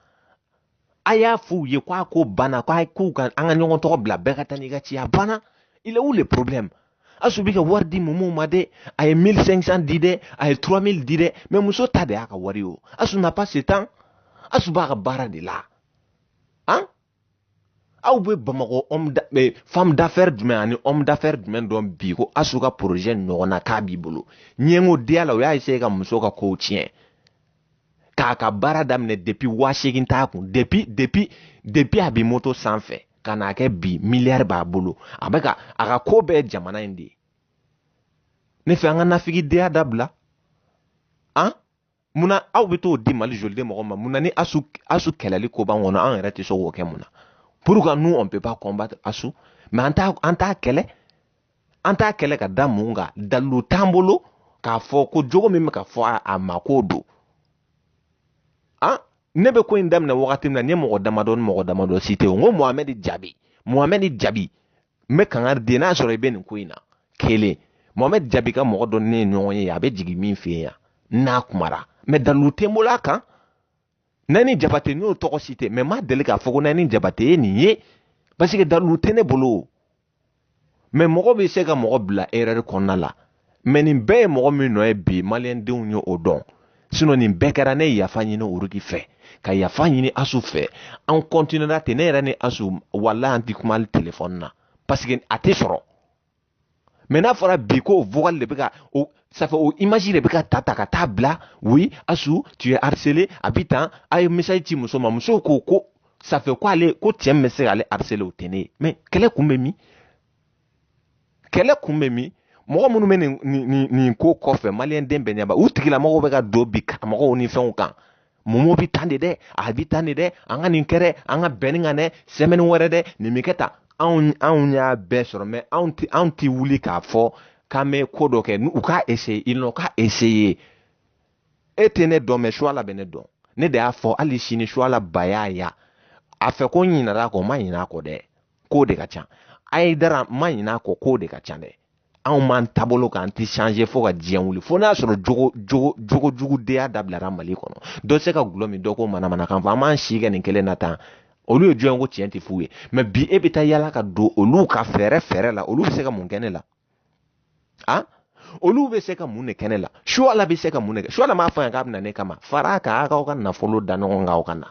a y'a fɔ u ye ko a ko banna ko a ko ka an ka ɲɔgɔn tɔgɔ bila bɛɛ ka taa n'i ka ci a banna il est où le problème asu bɛ ka wari di momo ma dɛ a ye 1500 di dɛ a ye 3000 di dɛ mais muso ta de y'a ka wari ye o asu n'a pas ce temps asu b'a ka baara de la han aw bɛ bamakɔ eh, femme d'affaires jumɛn ani homme d'affaires jumɛn dɔn bi ko asu ka projet ɲɔgɔnna k'a b'i bolo ɲɛngodenya la o y'a essayer ka muso ka kow tiɲɛ k'a ka baara daminɛ depuis waa seegin t'a kun depuis depuis depuis a bɛ moto sanfɛ ka n'a kɛ bi miliyari b'a bolo a bɛ ka a ka ko bɛɛ jamana in de ye ne fɛ an ka nafigidenya dabila an munna aw bɛ t'o di mali joliden mɔgɔ ma munna ni asu asu kɛlɛli ko b'an kɔnɔ an yɛrɛ tɛ se k'o kɛ mun na pourquoi nous on peut pas combattre asu mais an t'a an t'a kɛlɛ an t'a kɛlɛ ka da mun kan dalilu t'an bolo k'a fɔ ko jogo min bɛ ka fɔ a ma k'o don han ne bɛ ko in daminɛ wagati min na n ye mɔgɔ damadɔ ni mɔgɔ damadɔ citer n ko mohamɛdi jabi mohamɛdi jabi n bɛ kangari di n'a sɔrɔ i bɛ nin ko in na kelen mohamɛd jabi ka mɔgɔ dɔ ne ye ɲɔgɔn ye a bɛ jigin min fɛ yan n'a kumara mais dalilu tɛ n bolo a kan nani jabate n y'o tɔgɔ citer mais n ma deli k'a fɔ ko nani jabate ye nin ye parce que dalilu tɛ ne bolo mais mɔgɔ bɛ se ka mɔgɔ bila erreur kɔnɔna la mais nin bɛɛ ye mɔgɔ min nɔ ye bi maliyɛndenw ye o dɔn sinon nin bɛɛ kɛra ne ye yafa ɲini uruki fɛ ka yafa ɲini asu fɛ an kɔntinera ten ne yɛrɛ ni asu walahi an ti kuma hali telefɔni na parce que a tɛ sɔrɔ mais n'a fɔra bi ko vocal de bɛ ka o ça fait o image de bɛ ka ta ta ka taa bila oui asu tu es harcelée a bi tan a ye message ci muso ma muso ko ko ça fait ko ale ko cɛ min bɛ se k'ale harceler o tɛ ne ye mais kɛlɛ kun bɛ min kɛlɛ kun bɛ min mɔgɔ minnu bɛ nin nin nin ko kɔfɛ maliyɛnden bɛɛ ɲɛ b'a u tigilamɔgɔw bɛ ka don bi karamɔgɔw ni fɛnw kan mumu bɛ tan de dɛ a bɛ tan de dɛ an ka nin kɛ dɛ an ka bɛn nin kan dɛ semaine wɛrɛ dɛ nin bɛ kɛ tan anw anw y'a bɛɛ sɔrɔ mais anw tɛ anw tɛ wuli k'a fɔ k'an bɛ ko dɔ kɛ u k'a essayer ils n'ont qu'à essayer e tɛ ne dɔn mais suala bɛ ne dɔn ne de y'a fɔ hali sini suala bayaya a fɛ ko n ɲinɛna a kɔ n ma ɲinɛ a kɔ dɛ ko de ka ca ayidara ma ɲin'a kɔ ko de ka ca dɛ anw b'an taabolo kan an tɛ changer fo ka diɲɛ wuli fo n'a sɔrɔ jogo jogo jogo jugudenya dabilara mali kɔnɔ dɔ se ka gulɔ min dɔ ko manamanakan fɔ an b'an si kɛ nin kelen na tan olu ye jɔn ko tiɲɛ tɛ f'u ye mais bi e bɛ taa yala ka don olu ka fɛɛrɛ fɛɛrɛ la olu bɛ se ka mun kɛ ne la a olu bɛ se ka mun de kɛ ne la suala bɛ se ka mun de kɛ suala m'a fɔ yan k'a bɛ na ne kama fara a kan aw ka nafolo da ɲɔgɔn kan aw ka na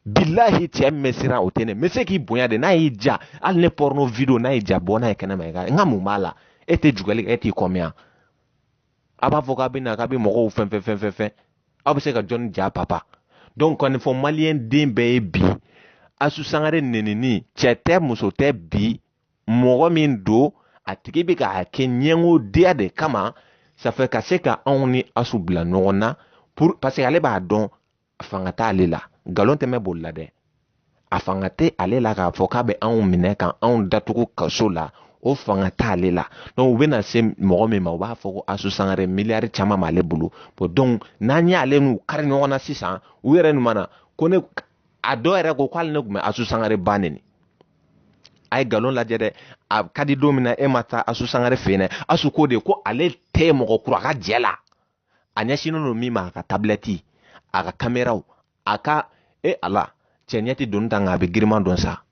bilahi cɛ min bɛ siran o tɛ ne n bɛ se k'i bonya de n'a y'i ja hali ne porno video n'a y'i ja bɔ n'a ye kɛnɛma i ka n ka mun b'a la e tɛ jugɛli kɛ e t'i kɔmiya a b'a fɔ k'a bɛ na k'a bɛ mɔgɔw fɛn fɛn fɛn fɛn fɛn aw bɛ se ka jɔnni ja papa donc kɔni fɔ maliyɛn den bɛɛ ye bi asu sangare nenini cɛ tɛ muso tɛ bi mɔgɔ min don a tigi bɛ k'a kɛ ɲɛngodenya de kama ça fait ka se ka anw ni asu bila ɲɔgɔn na pour parce que ale b'a dɔn fanga t'ale la nkalon tɛ mɛɛn boli la dɛ a fanga tɛ ale la k'a fɔ k'a bɛ anw minɛ ka anw datugu kaso la o fanga t'ale la donc u bɛna se mɔgɔ min ma u b'a fɔ ko asu sangare miliyari caman b'ale bolo bon donc n'an y'ale n'u kari ɲɔgɔn na sisan u yɛrɛ nin mana ko ne a dɔw yɛrɛ ko k'ale ne tun bɛ asu sangare ba neni a ye nkalon lajɛ dɛ a ka di don min na e ma taa asu sangare fɛ yen dɛ asu ko de ko ale tɛ mɔgɔ kura ka jɛ la a ɲɛsinnen don min ma a ka tabilɛti a ka kameraw a ka e ala cɛ ɲɛ tɛ doni ta nka a bɛ girinman dɔn sa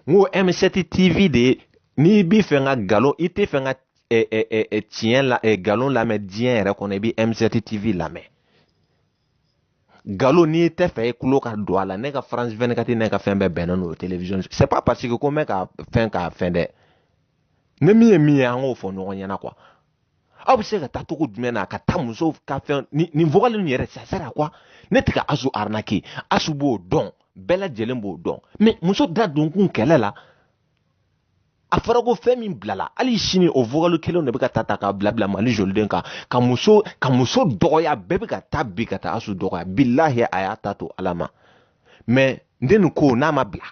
n ko m7 tv de ye n'i b'i fɛ ka nkalon i tɛ fɛ ka tiɲɛ la nkalon lamɛn diɲɛ yɛrɛ kɔnɔ i bɛ m7 tv lamɛn nkalon n'i tɛ fɛ i tulo ka don a la ne ka france 24 ne ka fɛn bɛɛ bɛnnen n'o télévision c'est pas parce que ko n bɛ ka fɛn k'a fɛn dɛ ni min ye min ye an k'o fɔ ɲɔgɔn ɲɛna quoi aw bɛ se ka taa cogo jumɛn na ka taa musow ka fɛn nin vocal ninnu yɛrɛ ça sert à quoi ne tɛ ka asu arnaquer asu b'o dɔn bɛɛ lajɛlen b'o dɔn mais muso da donkun kɛlɛ la a fɔra ko fɛn min bilala hali sini o vokali kelen de bɛ ka ta ta k'a bila bila mali joliden kan ka muso ka muso dɔgɔya bɛɛ bɛ ka taa bi ka taa asu dɔgɔya bilahi a y'a ta to ala ma mɛ n den nin ko n'a ma bila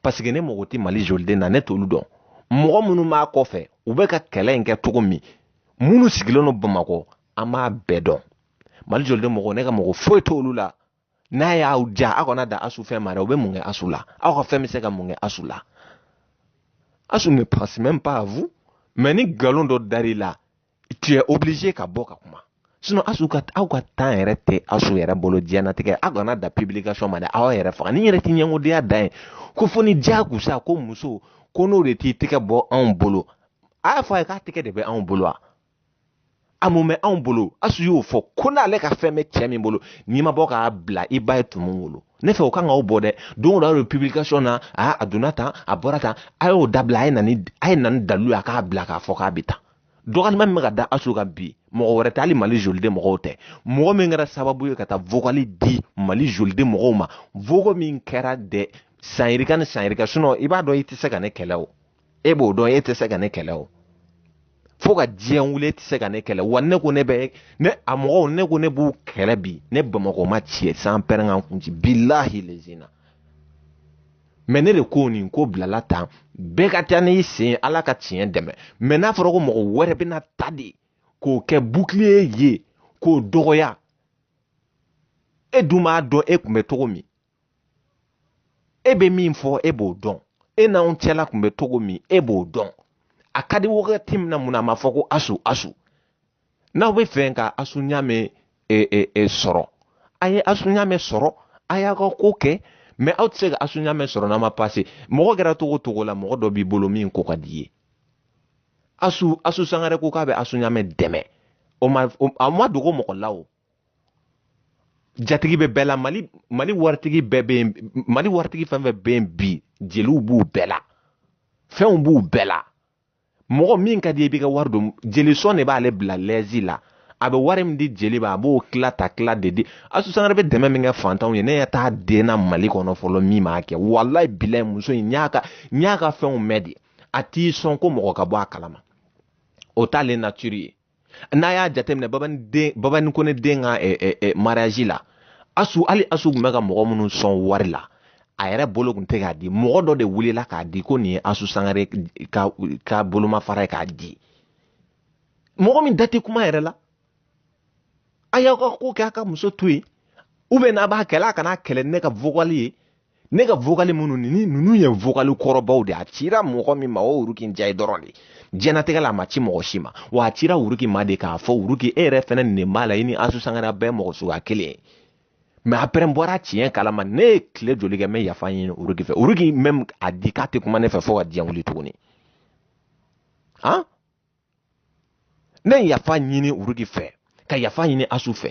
paseke ne mago tɛ mali joliden na ne t'olu dɔn mɔgɔ minnu b'a kɔfɛ u bɛ ka kɛlɛ in kɛ cogo min minnu sigilen don bamakɔ an b'a bɛɛ dɔn mali joliden mɔgɔ ne ka mɔgɔ foyi t'olu la n'a y'aw ja aw kana da asu fɛn ma dɛ u bɛ mun kɛ asu la aw ka fɛn bɛ se ka mun kɛ asu la asu ne pense même pas à vous mais ni nkalon dɔ dar'i la tu es obligé ka bɔ ka kuma sinon asu ka aw ka temps yɛrɛ tɛ asu yɛrɛ bolo diɲɛnatigɛ aw kana da publication ma dɛ aw yɛrɛ faga ni yɛrɛ tɛ ɲɛngodenya dan ye ko fo ni diyagosa ko muso ko n'o de t'i tɛgɛ bɔ anw bolo a y'a fɔ a ye k'a tɛgɛ de bɛ anw bolo wa a mun bɛ anw bolo asu y'o fɔ ko n'ale ka fɛn bɛ cɛ min bolo n'i ma bɔ k'a bila i ba ye tumu wolo ne fɛ o kan k'aw bɔ dɛ don o don a bɛ publication na a a donna tan a bɔra tan a y'o dabila a ye na ni a ye na ni dalilu ye a k'a bila k'a fɔ k'a bɛ tan dɔgɔyali min bɛ ka da asu kan bi mɔgɔ wɛrɛ tɛ hali mali joliden mɔgɔw tɛ mɔgɔ min kɛra sababu ye ka taa vokali di mali joliden mɔgɔw ma vokali min kɛra dɛ san yirika ni san yirika sinɔn i b'a dɔn i tɛ se ka ne kɛlɛ o e b'o dɔn e tɛ se ka ne kɛlɛ o fo ka diɲɛ wuli e tɛ se ka ne kɛlɛ wa ne ko ne bɛ ne a mɔgɔw ne ko ne b'u kɛlɛ bi ni bamakɔ ma tiɲɛ sanpɛrɛn ka n kun ci bilahi lezina mɛ ne de ko nin ko bilala tan bɛɛ ka taa n'i sen ala ka tiɲɛ dɛmɛ mɛ n'a fɔra ko mɔgɔ wɛrɛ bɛna ta de k'o kɛ bukiliye ye k'o dɔgɔya e dun b'a dɔn e kun bɛ cogo min e bɛ min fɔ e b'o dɔn e n'anw cɛla tun bɛ cogo min e b'o dɔn a ka di wagati min na mun na a ma fɔ ko asu asu n'aw bɛ fɛ ka asu ɲamɛ e, e, e, sɔrɔ a ye asu ɲamɛ sɔrɔ a y'a ka ko kɛ mɛ aw tɛ se ka asu ɲamɛ sɔrɔ n'a ma pase mɔgɔ kɛra cogo cogo la mɔgɔ dɔ b'i bolo min ko ka d'i ye asu asu sangare ko k'a bɛ asu ɲamɛ dɛmɛ o ma a ma dogo mɔgɔ la o jatigi bɛ bɛɛ la mali mali waritigi bɛɛ bɛ yen mali waritigi fɛn fɛn bɛ yen bi jeliw b'u bɛɛ la fɛnw b'u bɛɛ la mɔgɔ min ka di i b'i ka wari don jelisɔn de b'ale bila lɛzi la a bɛ wari min di jeli ma a b'o tila ta tila de di asu sangare bɛ dɛmɛ min kɛ fantanw ye ne ɲɛ t'a den na mali kɔnɔ fɔlɔ min b'a kɛ walayi bilayi muso in n y'a ka n y'a ka fɛnw mɛn de a tɛ sɔn ko mɔgɔ ka bɔ a kalama o t'ale natiri ye n'a y'a jateminɛ babani kone den ka eh, eh, eh, mariage la asu hali asu tun bɛ ka mɔgɔ minnu sɔn wari la a yɛrɛ bolo tun tɛ k'a di mɔgɔ dɔ de wulila k'a di ko nin ye asu sangare ka, ka bolomafara ye k'a di mɔgɔ min da tɛ kuma yɛrɛ la a y'aw ka ko kɛ a ka muso to yen ou bien n'a b'a kɛlɛ a kana kɛlɛ ne ka vocal ye ne ka vokali minnu ni ninnu ye vokali kɔrɔbaw de a cira mɔgɔ min ma o wuruki njayi dɔrɔn de diɲɛnatigɛ la a ma ci mɔgɔ si ma wa a cira wuruki ma de k'a fɔ wuruki e yɛrɛ fɛnɛ nin b'a la i ni asu sangare bɛɛ mɔgɔ suguya kelen ye mɛ apɛrɛn bɔra tiɲɛ kalama ne ye tile joli kɛ n bɛ yafa ɲini wuruki fɛ wuruki mɛm a di k'a tɛ kuma ne fɛ fo ka diɲɛ wuli tuguni han ne ye yafa ɲini uruki fɛ ka yafa ɲini asu fɛ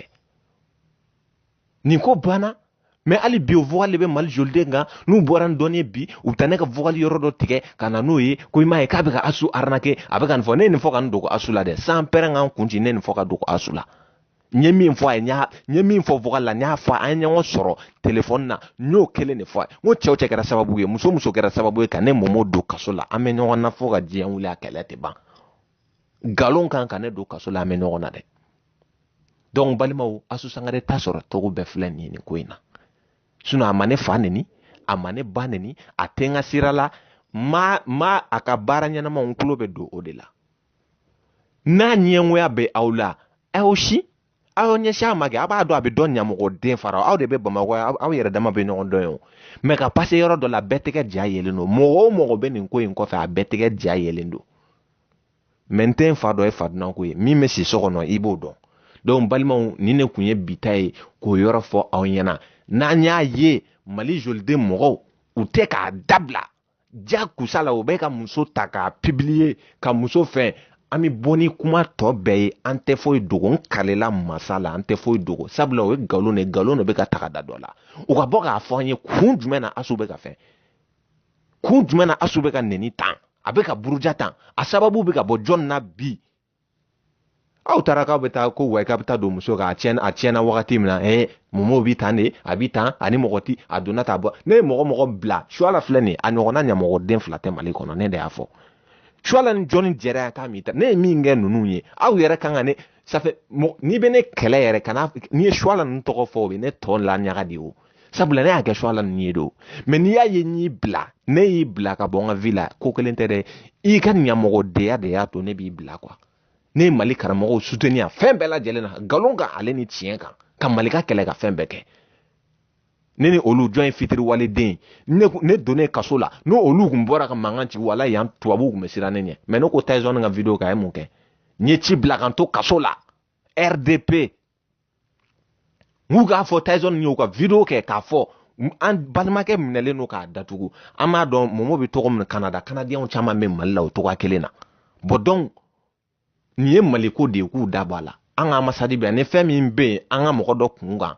nin ko banna mɛ hali bi o vocal de bɛ mali joliden kan n'u bɔra n dɔnni bi u bɛ taa ne ka vocal yɔrɔ dɔ tigɛ ka na n'o ye ko i m'a ye k'a bɛ ka asu arnaquer a bɛ ka nin fɔ ne ye nin fɔ ka nin dogo asu la dɛ sanpɛrɛn ka n kun ci ne ye nin fɔ k'a dogo asu la n ye min fɔ a ye n y'a n ye min fɔ vocal la n y'a fɔ an ye ɲɔgɔn sɔrɔ telefɔni na n y'o kelen de fɔ a ye n ko cɛ o cɛ kɛra sababu ye muso o muso kɛra sababu ye ka ne mɔmɔ don kaso la an bɛ ɲɔgɔn na fo ka diɲɛ wuli a kɛlɛ tɛ ban nkalon kan ka ne don kaso la an bɛ ɲɔgɔn na dɛ donc balimaw asu sangare ta sɔrɔ cogo bɛɛ filɛ nin ye nin ko in na sinɔn a ma ne fa neni a ma ne ba neni a tɛ n ka sira la ma a ka baara ɲɛnama n tulo bɛ don o de la n'a ɲɛngoya bɛ aw la aw si aw ɲɛsin a ma kɛ a b'a dɔn a bɛ dɔn ɲamɔgɔden fara aw de bɛ bamakɔ aw yɛrɛ dama bɛ ɲɔgɔn dɔn o mɛ ka pase yɔrɔ dɔ la bɛɛ tɛgɛ ja yelen don mɔgɔ o mɔgɔ bɛ nin ko in kɔfɛ a bɛɛ tɛgɛ ja yelen don mɛ n tɛ n fa dɔ ye fadunanko ye min bɛ si so kɔnɔ i b'o dɔn donc balimaw ni ne tun ye bi ta ye k'o yɔrɔ fɔ aw ɲɛna n'an y'a ye mali joliden mɔgɔw u tɛ k'a dabila ja kusala u bɛ ka muso ta k'a pibiliye ka muso fɛn an bɛ bɔ ni kuma tɔ bɛɛ ye an tɛ foyi dogo n kalela masa la an tɛ foyi dogo sabula o ye nkalon de nkalon de bɛ ka taga da dɔ la u ka bɔ k'a fɔ an ye kun jumɛn na asu bɛ ka fɛn kun jumɛn na asu bɛ ka neni tan a bɛ ka buruja tan a sababu bɛ ka bɔ jɔn na bi aw taara k'aw bɛ taa ko wa k'a bɛ taa don muso kan a tiɲɛna a tiɲɛna wagati min na ɛɛ mɔmɔ bi tan de a bi tan ani mɔgɔ ti a donna ta bɔ ne ye mɔgɔ o mɔgɔ bila suala filɛ nin a ɲɔgɔnna ɲamɔgɔden fila tɛ mali kɔnɔ ne de y'a fɔ suala ni jɔni jɛra yan k'a min ta ne ye min kɛ ninnu ye aw yɛrɛ kan ka ne safe n'i bɛ ne kɛlɛ yɛrɛ kana n'i ye suala ninnu tɔgɔ fɔ o bɛ ne tɔ la ɲaga de ye o sabula ne y'a kɛ suala ninnu ye de o mɛ n'i y'a ye n y'i bila ne y'i bila ka bɔ n ka vi la ko kelen tɛ dɛ i ka ɲamɔgɔdenya de y'a to ne b'i bila kuwa ne ye mali karamɔgɔw suteni a fɛn bɛɛ lajɛlen na nkalon kan ale ni tiɲɛ kan ka mali ka kɛlɛ ka fɛn bɛɛ kɛ ne ni olu jɔn ye fitiriwaleden ne ne donnen kaso la n'o olu kun bɔra ka mankan ci wala yan tubabuw kun bɛ siran ne ɲɛ mɛ ne ko taison ka video kan a ye mun kɛ n ye ci bila ka n to kaso la rdp k'u k'a fɔ Tyson y'u ka video kɛ k'a fɔ an balimakɛ minɛlen don k'a datugu an b'a dɔn momo bɛ tɔgɔ min kanada kanadiyɛnw caman bɛ mali la o tɔgɔ kelen na bon donc nin ye maliko de ye k'u da bɔ a la an ka ambassade bɛ yan ni fɛn min bɛ yen an ka mɔgɔ dɔ kun kan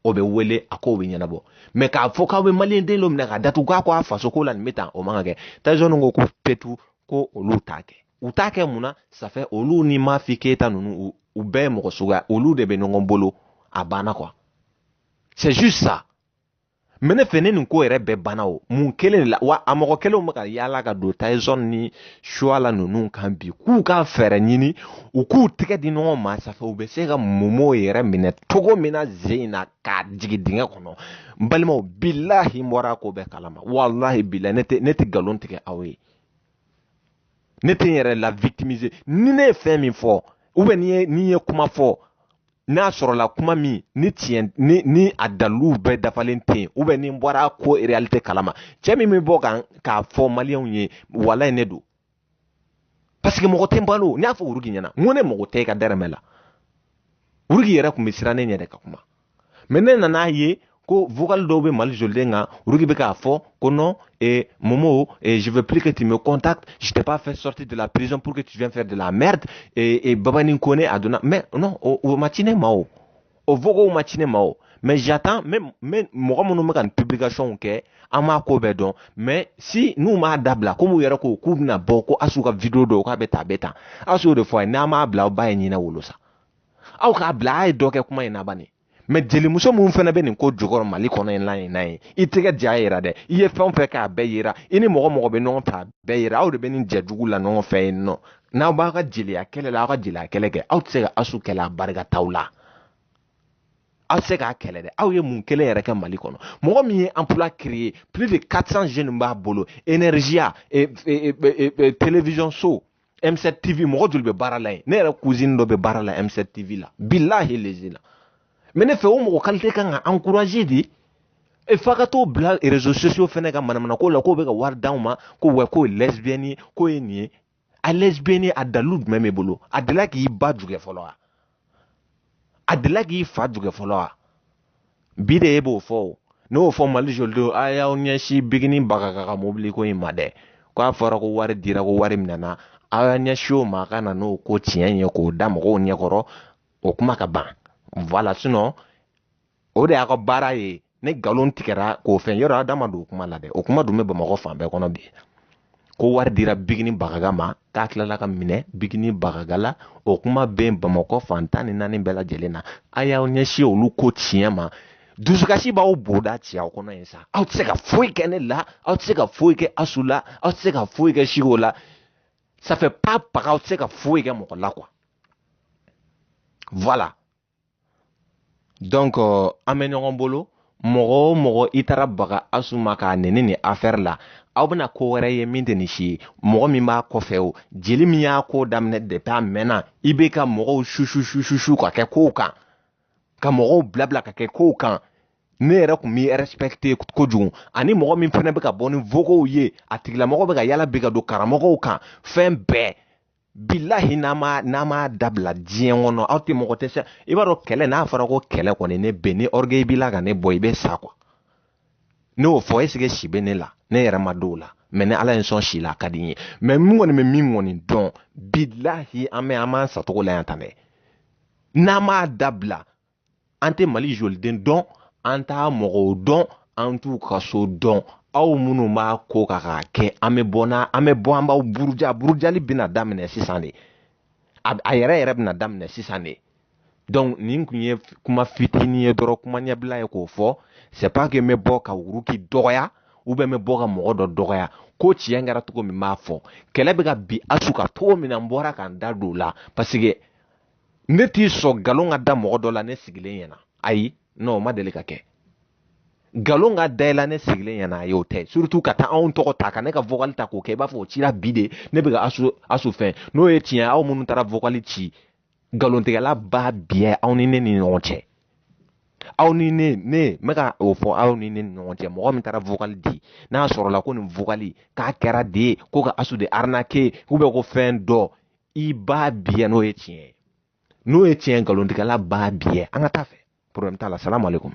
o bɛ wele a ko bɛ ɲɛnabɔ mais k'a fɔ k'aw bɛ mali den dɔ minɛ k'a datugu k'a ko a fasoko la nin bɛ tan o man ka kɛ Tyson ko ko petu ko olu t'a kɛ u t'a kɛ mun na ça fait olu ni mafi keyita ninnu u bɛɛ ye mɔgɔ suguya olu de bɛ ɲɔgɔn bolo a banna quoi c'est juste ça mais ne fɛ ne nin ko yɛrɛ bɛɛ banna o mun kelen de la wa a mɔgɔ kelenw bɛ ka yaala ka don Tyson ni suwala ninnu kan bi k'u ka fɛɛrɛ ɲini u k'u tɛgɛ di ɲɔgɔn ma ça fait u bɛ se ka momo yɛrɛ minɛ cogo min na zen in na k'a jigin dingɛ kɔnɔ n balimaw bilahi n bɔra ko bɛɛ kalama walahi bilahi ne tɛ ne tɛ nkalon tigɛ aw ye ne tɛ n yɛrɛ la victimiser ni ne ye fɛn min fɔ ou bien ni ye ni ye kuma fɔ n'a sɔrɔla kuma min ni tiɲɛ ni ni a dalilu bɛɛ dafalen tɛ yen ou bien ni n bɔra ko réalité kalama cɛ min bɛ bɔ k'a fɔ maliyɛnw ye walayi ne don parce que mɔgɔ tɛ n balo n y'a fɔ wurugi ɲɛna n ko ne mago tɛ i ka dɛrɛmɛ la wurugi yɛrɛ tun bɛ siran ne ɲɛ de ka kuma mais ne nan'a ye ko vocal dɔw bɛ mali joliden kan olu de bɛ k'a fɔ ko non eh, momo eh, je veux plus que tu me contactes je t'ai pas fait sortir de la prison pour que tu viens faire de la merde eh, eh, babani kone a donna mais non o, o ma ci ne ma o o vocal ma ci ne ma o mais j'attends même même mɔgɔ minnu bɛ ka nin publication kɛ an m'a ko bɛɛ dɔn mais si n'u m'a dabila komi u yɛrɛ ko k'u bɛna bɔ ko asu ka video dɔw k'a bɛ tan a bɛ tan asu y'o de fɔ a ye n'an m'a bila aw ba ye ɲinɛ wolo sa aw k'a bila a ye dɔ kɛ kuma in na bani mais jelimuso minnu fana bɛ nin ko jukɔrɔ mali kɔnɔ in lan in na ye i tɛgɛ ja yira dɛ i ye fɛn o fɛn k'a bɛɛ yira i ni mɔgɔ mɔgɔ bɛ ɲɔgɔn fɛ a bɛɛ yira aw de bɛ nin jɛ jugu la ɲɔgɔn fɛ yen nɔ n'aw b'aw ka jeliya kɛlɛ la aw ka jeliya kɛlɛ kɛ aw tɛ se ka asu kɛlɛ a barika t'aw la aw tɛ se k'a kɛlɛ dɛ aw ye mun kelen yɛrɛ kɛ mali kɔnɔ mɔgɔ min ye emploi créer plus de 400 jeunes b'a bolo énergie télévision so M7 TV mɔgɔ joli bɛ baara la yen ne yɛrɛ cousine dɔ bɛ baara la M7 TV la bilahi lezina mais ne fɛ o mɔgɔ qualité kan ka encourager de e fa ka t'o bila réseaux sociaux fɛnɛ ka manamanako la k'o bɛ ka wari d'anw ma ko wa k'o ye lesbienne ye k'o ye nin ye a lesbienne a dalilu jumɛn b'e bolo a delila k'i ba jugɛ fɔlɔ wa a delila k'i fa jugɛ fɔlɔ wa bi de e b'o fɔ o ne y'o fɔ mali jolidenw a y'aw ɲɛsin bigini bagaga ka mobili ko in ma dɛ ko a fɔra ko wari dira ko wari minɛna aw y'a ɲɛsin o ma a ka na n'o ko tiɲɛ ye k'o da mɔgɔw ɲɛkɔrɔ o kuma ka ban voilà sinon o de y'a ka baara ye ne nkalon tigɛra k'o fɛn yɔrɔ a da ma don o kuma la dɛ o kuma dun bɛ bamakɔ fan bɛɛ kɔnɔ bi ko wari dira bigini bagaga ma k'a tilala ka minɛ bigini bagaga la o kuma bɛ bamakɔ fan tan ni naani bɛɛ lajɛlen na a y'aw ɲɛsin olu ko tiɲɛ ma dusukasi b'aw boda ci aw kɔnɔ yen sa aw tɛ se ka foyi kɛ ne la aw tɛ se ka foyi kɛ asu la aw tɛ se ka foyi kɛ siko la ça fait pas baga aw tɛ se ka foyi kɛ mɔgɔ la quoi voilà donc euh, an bɛ ɲɔgɔn bolo mɔgɔ o mɔgɔ i taara baga asu ma k'a nɛni nin affaire la aw bɛna ko wɛrɛ ye min tɛ nin si ye mɔgɔ min b'a kɔfɛ o jeli min y'a ko daminɛ depuis a mɛnna i bɛ ka mɔgɔw sususususu ka kɛ kow kan ka mɔgɔw bilabila ka kɛ kow kan ne yɛrɛ tun b'i respecter kojugu ani mɔgɔ min fana bɛ ka bɔ ni vocaux ye a tigilamɔgɔ bɛ ka yala bi ka don karamɔgɔw kan fɛn bɛɛ bilahi n'a ma n'a ma dabila diɲɛ kɔnɔ aw tɛ mɔgɔ tɛ se i b'a dɔn kɛlɛ n'a fɔra ko kɛlɛ kɔni ne bɛ ni orgueil b'i la ka ne bɔ i bɛ sa quoi ne y'o fɔ est-ce que si bɛ ne la ne yɛrɛ m'a dɔn o la mais ni ala ye n sɔn si la a ka di n ye mais min kɔni bɛ min kɔni dɔn bilahi an bɛ an b'an satogo la yan tan dɛ n'a m'a dabila an tɛ mali joliden dɔn an t'a mɔgɔw dɔn an t'u ka so dɔn aw minnu b'a ko ka k'a kɛ an bɛ bɔ n'a an bɛ bɔ an b'aw buruja burujali bɛna daminɛ sisan de a a yɛrɛ yɛrɛ bɛna daminɛ sisan de donc nin tun ye kuma fitinin ye dɔrɔn kuma ɲɛbila ye k'o fɔ c'est pas que n bɛ bɔ ka wuruki dɔgɔya ou bien n bɛ bɔ ka mɔgɔ dɔ dɔgɔya ko tiɲɛ kɛra cogo min b'a fɔ kɛlɛ bɛ ka bin asu kan cogo min na n bɔra ka n da don o la parce que ne tɛ sɔn nkalon ka da mɔgɔ dɔ la ne sigilen ɲɛna ayi non o ma deli ka kɛ nkalon ka da i la ne sigilen ɲɛna ayi o tɛ surtout ka taa anw tɔgɔ ta ka ne ka vocal ta k'o kɛ i b'a fɔ o cira bi de ne bɛ ka asu asu fɛn n'o ye tiɲɛ aw minnu taara vocal ci nkalontigɛla ba biyɛ aw ni ne ni ɲɔgɔn cɛ aw ni ne ne n bɛ ka o fɔ aw ni ne ni ɲɔgɔn cɛ mɔgɔ min taara vocal di n'a sɔrɔla ko nin vocal k'a kɛra de ye ko ka asu de arnaquer ou bien ko fɛn dɔ i ba biyɛ n'o ye tiɲɛ ye n'o ye tiɲɛ nkalontigɛla ba biyɛ an ka taa fɛ problème t'a la salamu aleykum